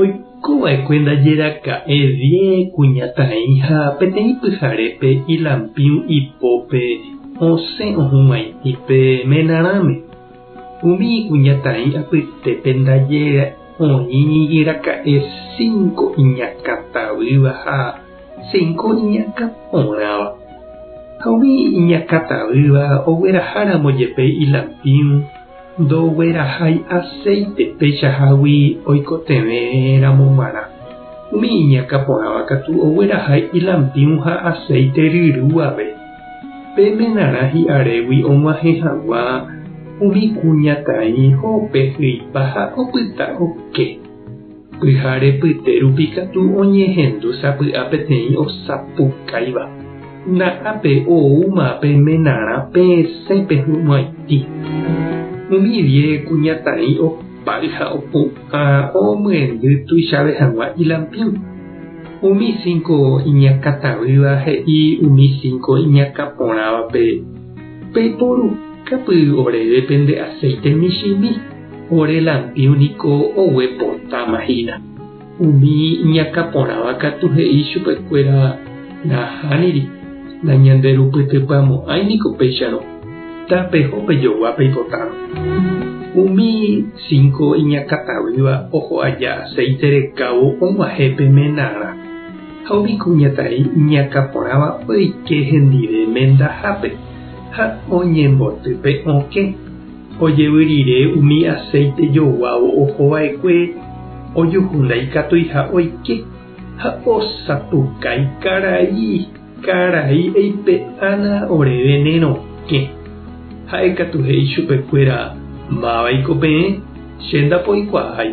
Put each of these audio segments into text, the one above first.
Oiko va'ekue ndaje raka'e vie kuñataĩ ha peteĩ pyharépe ilampiũ ipópe osẽ ohũgãiti pe menarãme. Umi ikuñataĩ apytépe ndaje oĩ raka'e cinco iñakã tavýva ha cinco iñakã porãva. Ha umi iñakã tavýva ogueraha ramo jepe ilampiũ, Ndoguerahái aséite peichahágui oikotevẽ ramo g̃uarã. Umi iñakã porãva katu oguerahái ilampiũ ha aséite ryrúave. Pe menarã hi'arégui og̃uahẽ hag̃ua umi kuñataĩ ho'ope hyipa ha opyta oke. Pyhare pyte rupi katu oñehendu sapy'a peteĩ osapukáiva. Na'ápe oúma pe menarã peẽsẽ pehu'ãiti. Umi diez kuñataĩ opáy ha opu'ã omyendy tuichave hag̃ua ilampín. Umi cinco iñakãtavýva he'i umi cinco iñakãporãvape, Peiporukápy oréve pende aceite michĩmi. Ore lampiu niko oguepotáma hína. Umi iñakã porãva katu he'i chupekuéra nahániri, nañanderupytypyamo'ãi niko péicharõ. Tapeho pejogua peipotárõ. Umi cinco iñakã taguýva oho aja aceite rekávo og̃uahẽ pe menarã, ha umi kuñataĩ iñakã porãva oike hendive mendahápe ha oñemboty pe okẽ. Ojevy rire umi aséite joguávo oho va'ekue ojuhu ndaikatuiha oike ha osapukái karai karai eipe'ána ore venénokẽ. Ha'e katu he'i chupe kuéra, Máva iko peẽ, che ndapoikuaái.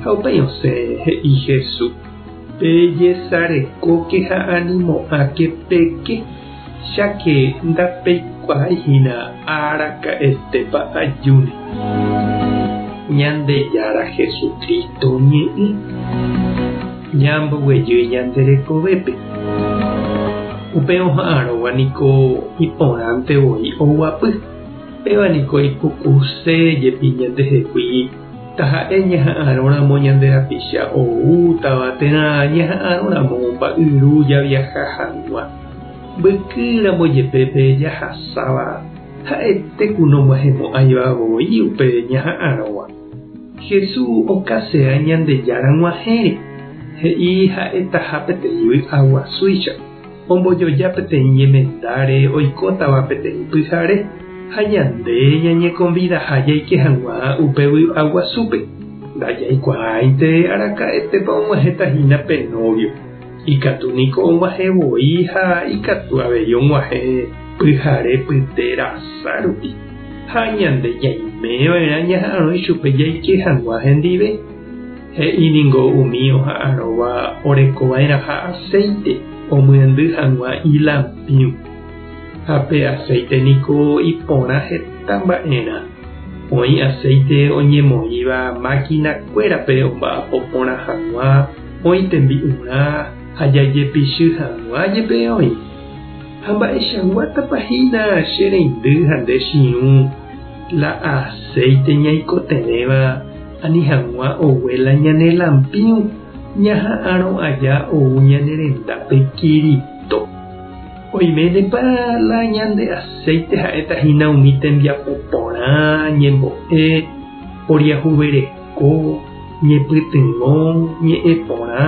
Ha upéi osẽ he'i Hesu, Pejesarekóke ha animo'ãke peke. Cháke ndapeikuaái hína araka'etépa ajúne Ñandejára Jesucristo oñe'ẽ ñamboguejy ñande rekovépe. Upe oha'arõva niko iporãnte voi oguapy. Péva niko ipukuse jepi ñandehegui taha'e ñaha'arõramo ñande rapicha oútava térã ñaha'arõramo omba'yru javiaha hag̃ua. Mbyky ramo jepe pe jahasáva ha'ete ku nomohemo'ãiva voi upe ñaha'arõva. Hesu okasea Ñandejára g̃uahẽre, he'i ha'etaha peteĩ vy'a guasúicha, ombojoja peteĩ ñemendáre oikótava peteĩ pyhare, ha ñande ñañekonvidaha jaike hag̃ua upe vy'a guasúpe. Ndajaikuaáinte araka'etépa og̃uahẽta hína pe nóvio. Ikatu niko og̃uahẽ voi ha ikatu avei og̃uahẽ pyhare pyte rasa rupi, ha ñande ñaime va'erã ñaha'arõ ichupe jaike hag̃ua hendive. He'i ningo umi oha'arõva oreko va'erãha aséite omyendy hag̃ua ilampiũ. Ha pe aséite niko iporã heta mba'erã. Oĩ aséite oñemoĩva mákina kuérape omba'apo porã hag̃ua, oĩ tembi'urã ha jajepichy hag̃ua jepe oĩ? Ha mba'eichaguátapa hína che reindy ha nde chiũ la aséite ñaikotevẽva ani hag̃ua ogue la ñane lampiũ ñaha'arõ aja ou ñane rendápe Kirito? Oiménepa la ñande aséite ha'éta hína umi tembiapo porã ñembo'e poriahuvereko? Ko ñepytyvõ ñe'ẽ porã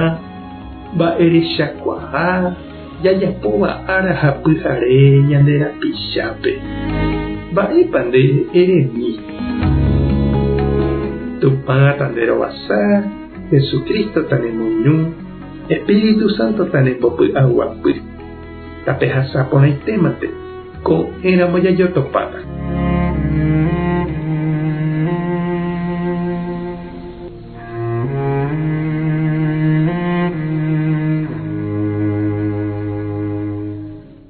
mba'erechakuaa jajapóva ára ha pyhare ñande rapichápe. Mba'épa nde eremi? Tupã tanderovasa, Jesucristo tanemoñu, Espíritu Santo tanembopy'aguapy. Tapehasa porãitémante, ko'ẽramo jajotopáta.